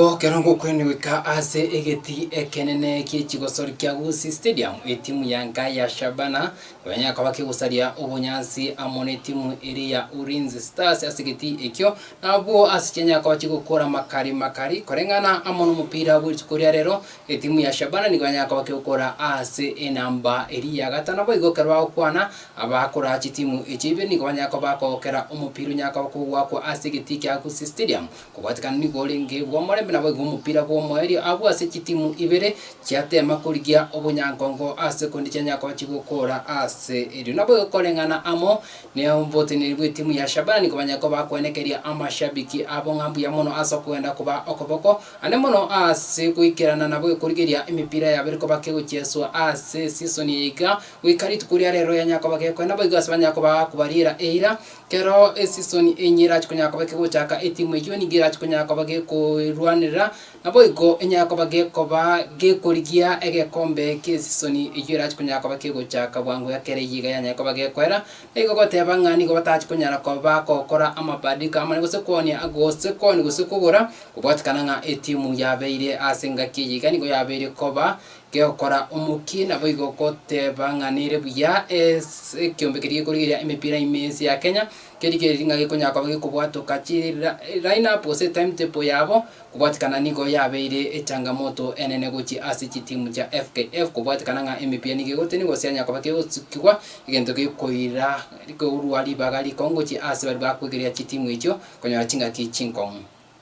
Ekero ngokwene goika ase egeti ekenene gie chigosori kia Gusii Stadium, etimu ya Nkayi ya Shabana nibanyare koba kegosaria obonyansi amo netimu eria ya Ulinzi Stars ase egeti ekio, na abwo ase chianyare koba chigokora makari makari koreng'ana amo nomopira bwerituko ria rero, etimu ya Shabana nigo yanyare koba kegokora ase enamba eria ya gatano. Naboigo ekero bagokwana, abakora chitimu echio ibere nigo banyare koba bakogokera omopira onyare koba kogwakwa ase egeti kia Gusii Stadium. Kobwatikana nigo orenge bw'omorembe naboigo omopira bw'omoerio abwo ase chitimu ibere chiateema korigia obonyankongo ase kondi chianya koba chigokoora ase erio naboigo koreng'ana amo noboteneneri bw'etimu ya Shabani kobanya koba kwenekeria amashabiki abo ng'a mbuya mono ase okogenda koba okoboko ande mono ase goikerana naboigo korigeria emepira yabere koba kegochieswa ase season eye iga goika rituko riarero yanya koba gekoenda boigo ase banya koba kobariera eira Kero esisoni eyio erache konya koba kegochaka, etimu eyio nigo erache konya koba gekoerwanerera, naboigo enyare koba gekoba gekorigia egekombe ki'esisoni eyio erache konya koba kegochaka bwango iga kere eyio iga yanyare koba gekoera. Nigo goteba ng'a nigo batache konyara koba gokora amabadiliko amane gose koonia gose koonia gose kogora, gwatanana ng'a etimu yabeire ase engaki eyio iga nigo yabeire koba Geokora omokie, naboigo ogoteba ng'a nere buya ase ekiombe keria gekorigereria emepira ime ense ya Kenya, kerigereiri ng'a gekonyara koba gekobwatoka chi line up gose timetable yabo, kobwatikana nigo yabeire echangamoto enene gochia ase chitimu chia FKF kobwatikana ng'a emepira nigo egotenigwa gose yanyara koba kegosukigwa, egento gekoira korwa ribaga rikong'u gochia ase baria bakoigereria chitimu echio konyora chingaki chinkong'u.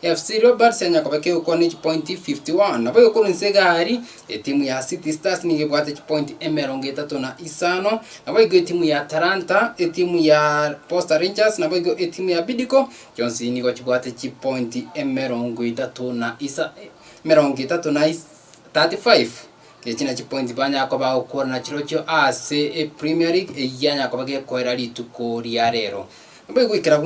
FC Leopards yanya kobeka egokwana ne chipointi 51, nabo ekorwa inse egari, etimu ya City Stars nigo ebwate chipointi emerongo etato na isano, nabo igo etimu ya Talanta, etimu ya Posta Rangers nabo igo etimu ya Bidco, chionsi nigo chibwate chipointi emerongo etato na isa emerongo etato na is- 35. Echi na chipointi banyara koba bagokorana chirochio ase epremier league, eyio yanya koba gekoera rituko ria rero. Nabo egoikera buna.